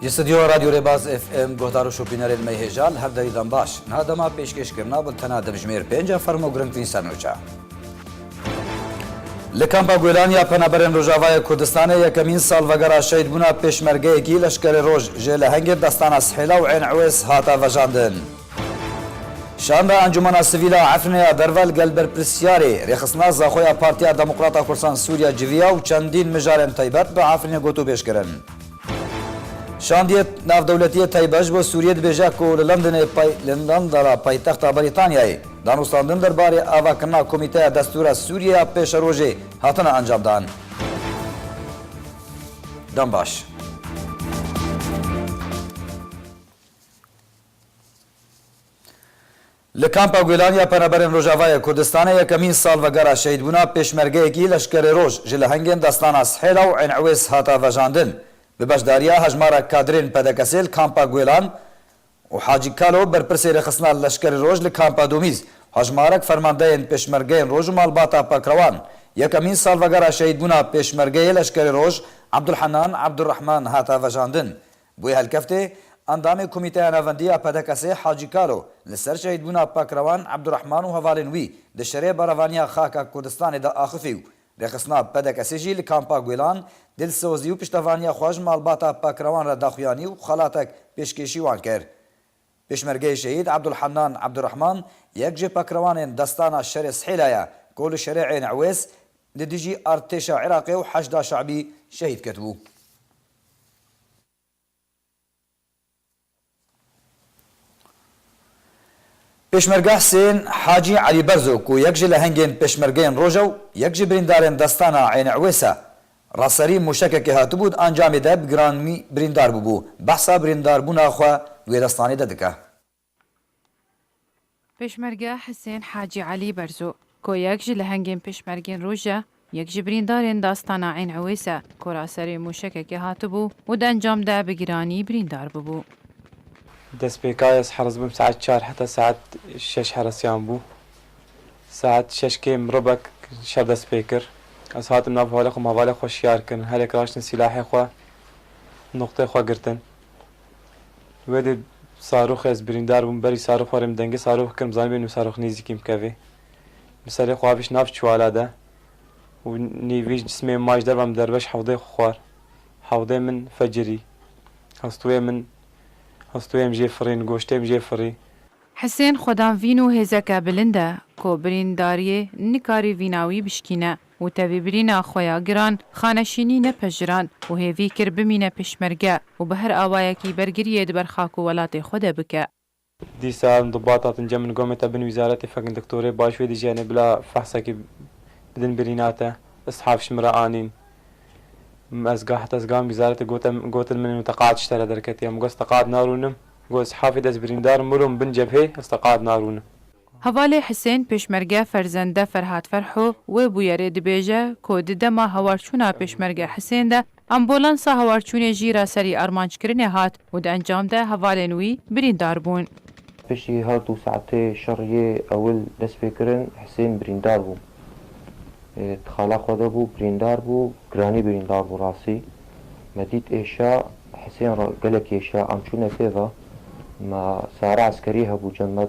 Ji stûdyoya Radyo Rêbaz FM guhdar û şopînerên me hêjan her derîdan baş. Niha dema pêşkêş kirin nabin tena demjimêr pênc e fermo girintîn ser nûça. Li kampa Guêlan ya Penaberên Rojavayê Kurdistanê yekemîn salvegera şehîdbûna pêşmergeyekî leşkerê roj jê lehengê destana Sihêla û Ên Ewês hate vejandin. Şanda Encûmena Sivîl a Efrînê ya Derve li gel berpirsyarê, rêxistina Zaxoya Partiya Demokrata Kursan Sûriya civiya û çendîn mijarên taybet bi Efrînê gotûbêj kirin. Şandiyê Navdewletiyê Taybet ji bo Sûriyê dibêje ku li Londonê pay li Londona paytexta Brîtanyayê danûstandin der barê avakirina Komîteya Destûr a Sûriyê ya pêşerojê hatine encamdan. Dem baş. Li Kampa Gulan ya Penaberên Rojavayê Kurdistanê yekemîn salvegera şehîdbûna pêşmergeyekî Leşkerê Roj ji lehengên destana Sihêla û Eyn Ewês hata vejandin. Bi beşdariya hejmarek kadrên PDK'sê li Kampa Gulan û Hacî Kalo berpirsê rêxistina Leşkerê Roj li Kampa Domîz û hejmarek fermandeyên pêşmergeyên Roj û malbata Pakrewan yekemîn salvegera şehîdbûna pêşmergeyê Leşkerê Roj Ebdulhenan Ebdurehman hata vejandin. Bûye helkeftê, Endamê Komîteya Navendî ya PDKS'ê Hacî Kalo li ser şehîdbûna Pakrewan Ebdurehman û hevalên wî di şerê berevaniya Xaka Kurdistanê de axifî û rêxistina PDKS'ê jî li Kampa Guêlan dilsozî û piştevaniya xwe ji malbata Pakrewan re daxuyanî û xelatek pêşkêşî wan kir. Pêşmergeyê Şehîd Ebdulhennan Ebdurehman yek ji pakrewanên destana şerê Sihêla ye ku li şerê Êyn Ewês li dijî artêşa Iraqê û Heşda Şe'bî şehîd ketibû. Pêşmerge Husên Hacî Elî Berzo ku yek ji lehengên pêşmergeyên Roja û yek ji birîndarên Destana Eyn Ewês e, ra serî mûşekekê hatibû di encamê de bi giranî birîndar bûbû, behsa birîndarbûna xwe di wê destanê de dike. Pêşmerge Hisên Hacî Elî Berzo ku yek ji lehengên pêşmergên roj e, yek ji birîndarên Dastana Eyn Ewês e ku ra serê mûşekekê hatibû û di encam de bi giranî birîndar bibû. Destpêka ez heres bûm saet çar heta saet şeş heresiyan bû. Saet şeş kêm mirobek şer dest pê kir. Ez hatim nav holê xwe malê xwe şiyar kirin. Herêk raştin sîlahê xwe, nuqtê xwe girtin. Wê dê Saroxê ez birîndar bûm berî Sarox warê min dengê Saroxê kir min zanîbû nû Sarox nêzîkî min kevê. Min serê xwe avêş nav çiwala de û nêvîj cismê min ma ji derva min derbeş hewdê xwe xwar. Hewdê min fecirî. Hestûyê min hestûyê min jê firîn, goştê min jê firî. Hisên xwedanvîn û hêzeke bilind e ku birîndariyê nikarî vîna wî bişkîne. û tevî birîna xwe ya giran xaneshînî nepejiran û hêvî kir bimîne pêşmerge û bi her awayekî bergiriyê di ber xak û welatê xwe de bike. Dîsan Dubat hatin cemin gomê te bin wîzaretê fekin diktorê baş wê dijîyanê bila fehsekî bidin birîna te. Îstihaf ji min re anîn. Min ez gah heta ez gam wîzaretê gote gotin min û te qad ji te re derketiye. Min got ez te qad narûnim. Got îstihafê de ez birîndar mir û min bin cebhê ez te qad narûnim. Hevalê Hisên Pêşmerge Ferzende Ferhat Ferho wê bûyerê dibêje ku di dema hawarçûna Pêşmerge Hisên de ambulansa hawarçûnê jî ra serî armançkirinê hat û di encam de hevalên wî birîndar bûn. Piştî hewt û saetê şer yê ewil dest pê kirin Hisên birîndar bû. Di xala xwe de bû, birîndar bû, giranî birîndar bû rastî. Me dît êşa Hisên re gelek êşa, em çûne pê ve, me sare eskerî hebû cem me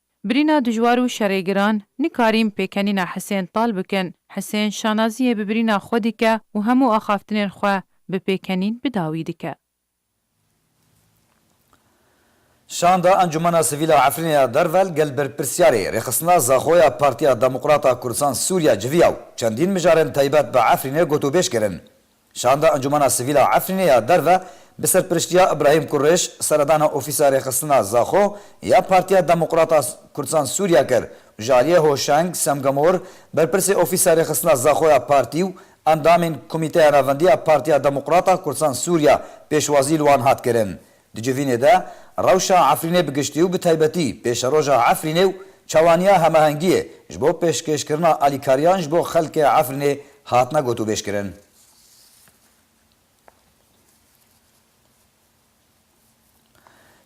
Birîna dijwar û şerê giran, nikarîn pêkenîna Hisên Tal bikin. Hisên şanaziyê bi birîna xwe dike û hemû axaftinên xwe bi pêkenîn bi dawî dike. Şanda Encûmena Sivîl a Efrînê ya Dervel gel berpirsiyarê Rêxistina Zaxoya Partiya Demokrata Kurdistan Sûriya civiya û çendîn mijarên taybet bi Efrînê gotûbêj kirin. Şanda Encûmena Sivîl a Efrînê ya Derve bi serpiriştiya Îbrahîm Kurêş seredana ofîsa rêxistina Zaxo ya Partiya Demokrat a Kurdisan Sûriye kir û ji aliyê Hoşeng Semgamor berpirsê ofîsa rêxistina Zaxo ya partî û endamên Komîteya Navendî ya Partiya Demokrat a Kurdisan Sûriye pêşwazî li wan hat kirin. Di civînê de rewşa Efrînê bi giştî û bi taybetî pêşeroja Efrînê û çawaniya hemahengiyê ji bo pêşkêşkirina alîkariyan ji bo xelkê Efrînê hatine gotûbêjkirin.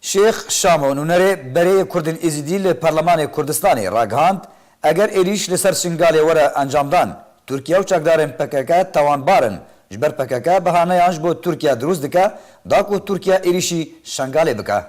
Şêx Şamo Nûnerê berê Kurdên Êzîdî li Parlemanê Kurdistanê ragihand, Eger êrîş li ser Şingalê were encamdan, Tirkiye û çekdarên pkk tawanbar in, ji ber pkk bihaneyan ji bo Tirkiye dirûst dike da ku Tirkiye êrîşî Şingalê bike.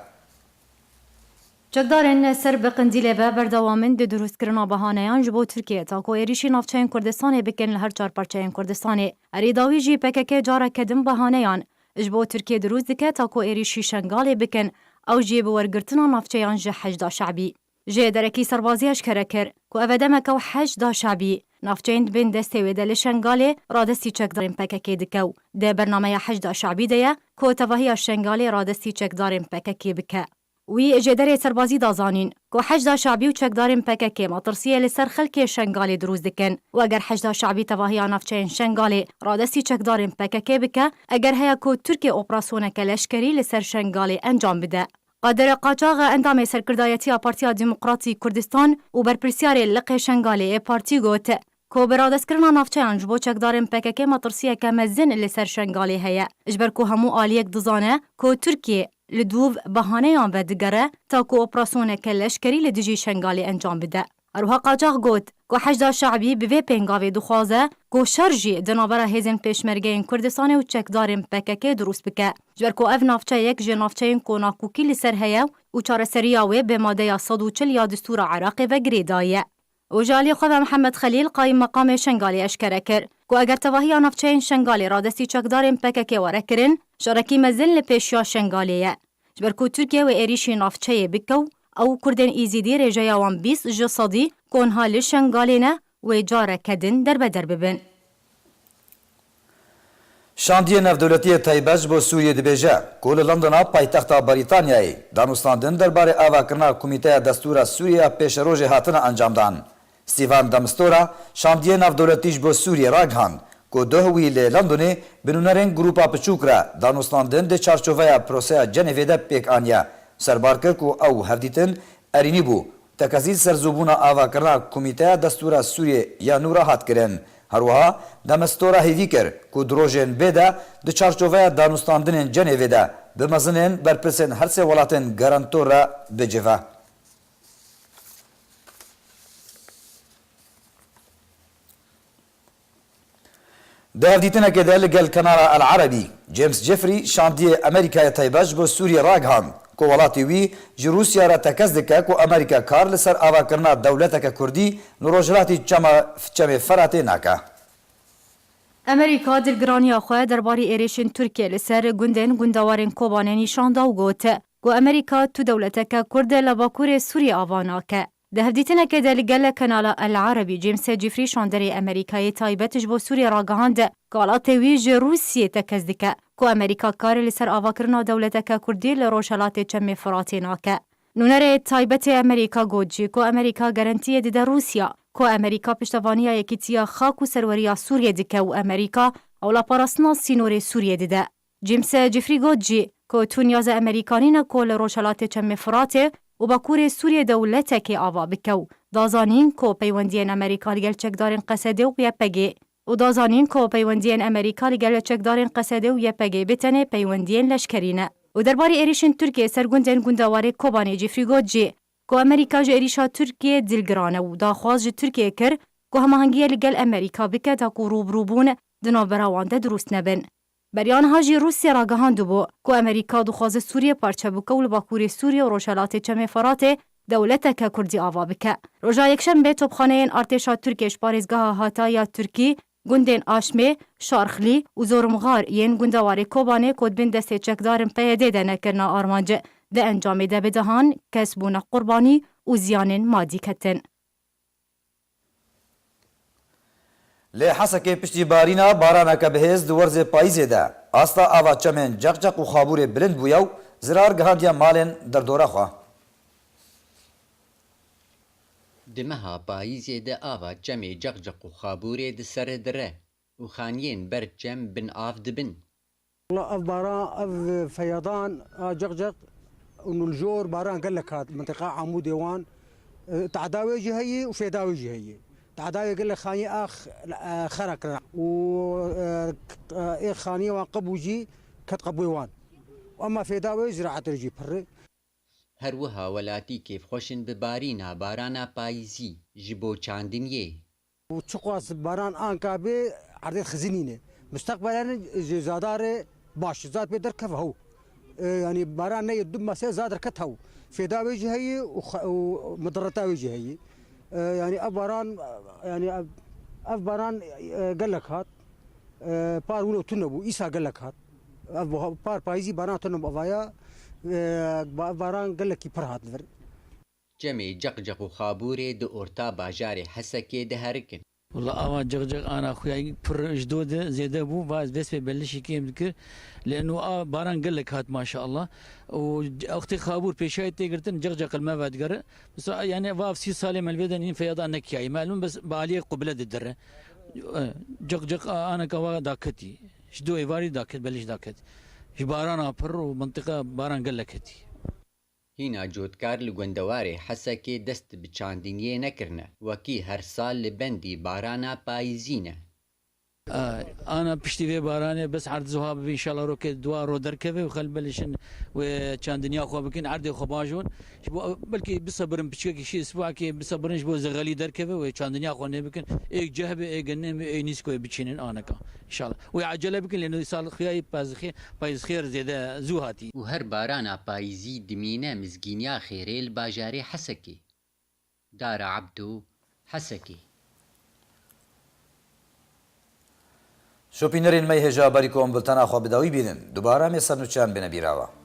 Çekdarên ser bi Qindîlê ve berdewam in di dirûstkirina bihaneyan ji bo Tirkiye ta ku êrîşî navçeyên Kurdistanê bikin li her çar parçeyên Kurdistanê. Erê dawî jî pkk careke din bihaneyan ji bo Tirkiye dirûst dike ta ku êrîşî Şingalê bikin, ew jî bi wergirtina navçeyan ji hejda şebî. Jê derekî serbazî eşkere kir ku ev e demeke û heşt da şabî navçeyên di bên destê wê de li Şengalê radestî çekdarên pkk dike û di bernameya heşt da şabî de ye ku tevahiya Şengalê radestî çekdarên pkk bike. Wî ji derê serbazî da zanîn ku heşt da şabî û çekdarên pkk matirsiyê li ser xelkê Şengalê dirûst dikin û eger heşt da şabî tevahiya navçeyên Şengalê radestî çekdarên pkk bike eger heye ku Tirkiye operasyoneke leşkerî li ser Şengalê encam bide. Qadir Qaçax endamê Serkirdayetiya Partiya Demokratîk Kurdistan û berpirsyarê Liqê Şengalê ê partî got ku bi radestkirina navçeyan ji bo çekdarên PKK'ê metirsiyeke mezin li ser Şengalê heye ji ber ku hemû aliyek dizane ku Tirkiye li dûv bahaneyan vedigere ta ku operasyoneke leşkerî li dijî Şengalê encam bide. Herwiha Qaçax got ku Heşda Şe'bî bi vê pêngavê dixwaze ku şer jî di navbera hêzên Pêşmergeyên Kurdistanê û çekdarên pkk dirûst bike ji ber ku ev navçe yek ji navçeyên ku nakokî li ser heye û çareseriya wê bi madeya sed û çil ya distûra Iraqê ve girê daye. Û ji aliyê xwe ve Mihemed Xelîl Qayîmmeqamê Şengalê eşkere kir ku eger tevahiya navçeyên Şengalê radestî çekdarên pkk were kirin, şerekî mezin li pêş ya Şengalê ye. Ji ber ku Tirkiye wê êrîşî navçeyê bike û ew û Kurdên Îzîdî rêjeya wan bîst ji sedî ku niha li Şengalê ne, wê careke din derbeder bibin. Şandiyê Navdewletî yê Taybet ji bo Sûriyê dibêje ku li Londona paytexta Brîtanyayê danûstandin derbarê avakirina Komîteya Destûr a Sûriyê ya Pêşerojê hatine encamdan. Stîvan de Mistura şandiyê navdewletî ji bo Sûriyê ragihand ku doh wî li Londonê bi nûnerên grûpa piçûk re danûstandin di çarçoveya proseya Cenevê de pêk aniye. Serbar kir ku ew hevdîtin erînî bû. Tekezî serzûbûna avakirina Komîteya Destûra Sûriyê ya nû re hat kirin. Her wiha de Mistura hêvî kir ku di rojên bê de di çarçoveya danûstandinên Cenevê de bi mezinên berpirsên her sê welatên garantor re bicive. Di hevdîtinekê de li gel kanala El Erebî, James Jeffrey şandiyê Amerîkayê taybe ji bo Sûriyê ragihand ku welatî wî ji Rûsya re tekez dike ku Amerîka kar li ser avakirina dewleteke kurdî li rojhilatî çema Çemê Feratê nake. Amerîka dilgiraniya xwe derbarê êrişên Tirkiyê li ser gundên gundewarên Kobanê nîşan da û got, Ku Amerîka tu dewleteke Kurd e la Bakurê Sûriyê ava nake. Di hevdîtinekê de li gel kanala El Arabî James Jeffrey şanderê Amerîkayê taybet ji bo Sûriyê ragihand ku alatê wî ji Rûsiyê tekez dike ku Amerîka karê li ser avakirina dewleteke Kurdî li rojhelatê Çemê Firatê nake. Nûnerê taybetê Amerîka got jî ku Amerîka gerentiyê dide Rûsiya ku Amerîka piştevaniya yekîtiya xak û serweriya Sûriyê dike û Amerîka ewla parastina sînorê Sûriyê dide. James Jeffrey got jî ku tu niyaza Emerîkanî ne ku li rojhelatê Çemê Firatê û bakurê Sûriyê dewletekê ava bike û da zanîn ku peywendiyên Emerîka li gel çekdarên Qesedê û YPGê û da zanîn ku peywendiyên Emerîka li gel çekdarên Qesedê û YPGê bê tenê peywendiyên leşkerî ne. Û derbarê êrîşên Tirkiyê ser gundên gundewarê Kobanê Jeffrey got jî ku Emerîka ji êrîşa Tirkiyê dilgiran e û daxwaz ji Tirkiyê kir ku hemahengiyê li gel Emerîka bike taku rûbirûbûn di navbera wan de dirûst nebin. Beriya niha jî Rûsya ragihandibû ku Amerîka dixwaze Sûriyê parçe bike û li Bakûrê Sûriyê û rojhelatê Çemê Feratê dewleteke Kurdî ava bike. Roja Yekşembe topxaneyên artêşa Tirkiyê ji parêzgeha Hatayîya Tirkî, gundên Aşmê, Şarxlî û Zorimxar yên gunda warê Kobanê ku dibin destê çekdarên PYD'ê de ne kirine armanc. Di encamê de bi dehan kes bûne qurbanî û ziyanên madî ketin. Li Hesekê piştî barîna baraneke bihêz di werzê payîzê de asta ava çemên Ceqceq û Xabûrê bilind bûye û zirar gihandiye malên derdora xwe. Di meha payîzê de ava çemê Ceqceq û Xabûrê di sere dire û xaniyên ber çem bin av dibin. Wela ev baran, ev feyadan a ceqceq û nûljor baran gelek hat mintiqa Amûdê wan. Teada wê jî heye û fêda wê jî heye. Teada wê gelek xaniyên a xera kirin û ê xaniyên wan qebû jî ket qebûyê wan. Ema fêda wê ziraetê re jî pirr e. Her wiha welatî kêfxweş in bi barîna barana payîzî ji bo çandiniyê Û çiqas baran anka bê erdê xizî nîne. Musteqbelen ji zadarê baş zad pê derkeve hew. Yanî baran neyê du mase zad reket hew. Fêda wê jî heyî û midireta wê jî heyî. Yanî ev baran yanî ev baran gelek hat. Par wilo tune bû îsa gelek hat. Ev par payîzî baran tune bû. Ev vaya ev baran gelekî pir hat vir. Çemê Ceqceq û Xabûrê di orta bajarê Hesekê diherikin. Walla ava ceqceq ana xuya pir ji do de zêde bû va ez dest pê belişî kêm dikir lê nu a baran gelek hat maşallah û wextê xabûr pêşayî tê girtin ceqceq li me vedigere misa yanî va ev sî salê me li vê de nîn feyada nekiyayî me elmin bes bi aliyê qubile didire ceqceq a ana ka va daketî ji do êvarî daket belişî daket ji barana pir û mintiqa baran gelek hetî. Hîna cotkar li gundewarê Hesekê dest bi çandiniyê nekirine, wekî her sal li bendî barana payîzî ne. Ana piştî vê baranê bes erd zuha bibe înşala rokê dua ro derkeve û xelk belişin wê çandiniya xwe bikin erdê xwe baş ûn ji bo belkî bisebirin piçikekî şî spakê bisebirin ji bo zexelî derkeve wê çandiniya xwe nêbikin êk ceh be êk genê be êk nîskûyê biçînin aneka Şal. Wê ecele bikin lê nû sal xuya yê pezixê payizxêr zêde zû hatî. Û her barana payizî dimîne mizgîniya xêrê li bajarê Hesekê, Dara Ebdo, Hesekê. Şopînerên me yê hêja berî ku em bultena xwe bi dawî bînin, dubare em ê sernûçeyan bêne bîrawa.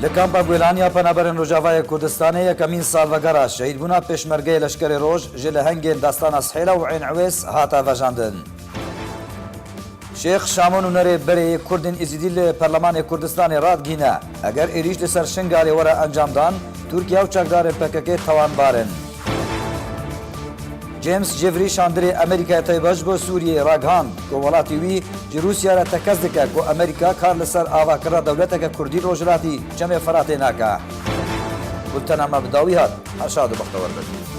Li Kampa Guelan ya Penaberên Rojavayê Kurdistanê yekemîn salvegera şehîdbûna Pêşmergeyê Leşkerê Roj ji lehengên Dastana Sihêla û Eyn Ewês hate vejandin. Şêx Şamo Nûnerê berê yê Kurdên Êzîdî li Perlemanê Kurdistanê radgihîne, Eger êrîş li ser Şingalê were encamdan, Tirkiye û çekdarên pkk tawanbar in. James Jeffrey şandirê Amerîkayê tayê baş bo Sûriyeyê ragihand ku welatî wî ji Rûsya re tekez dike ku Amerîka kar li ser avakirina dewleteke kurdî li rojhilatî Çemê Firatê nake. Bultena me bi dawî hat. Her şad û bextewar bin.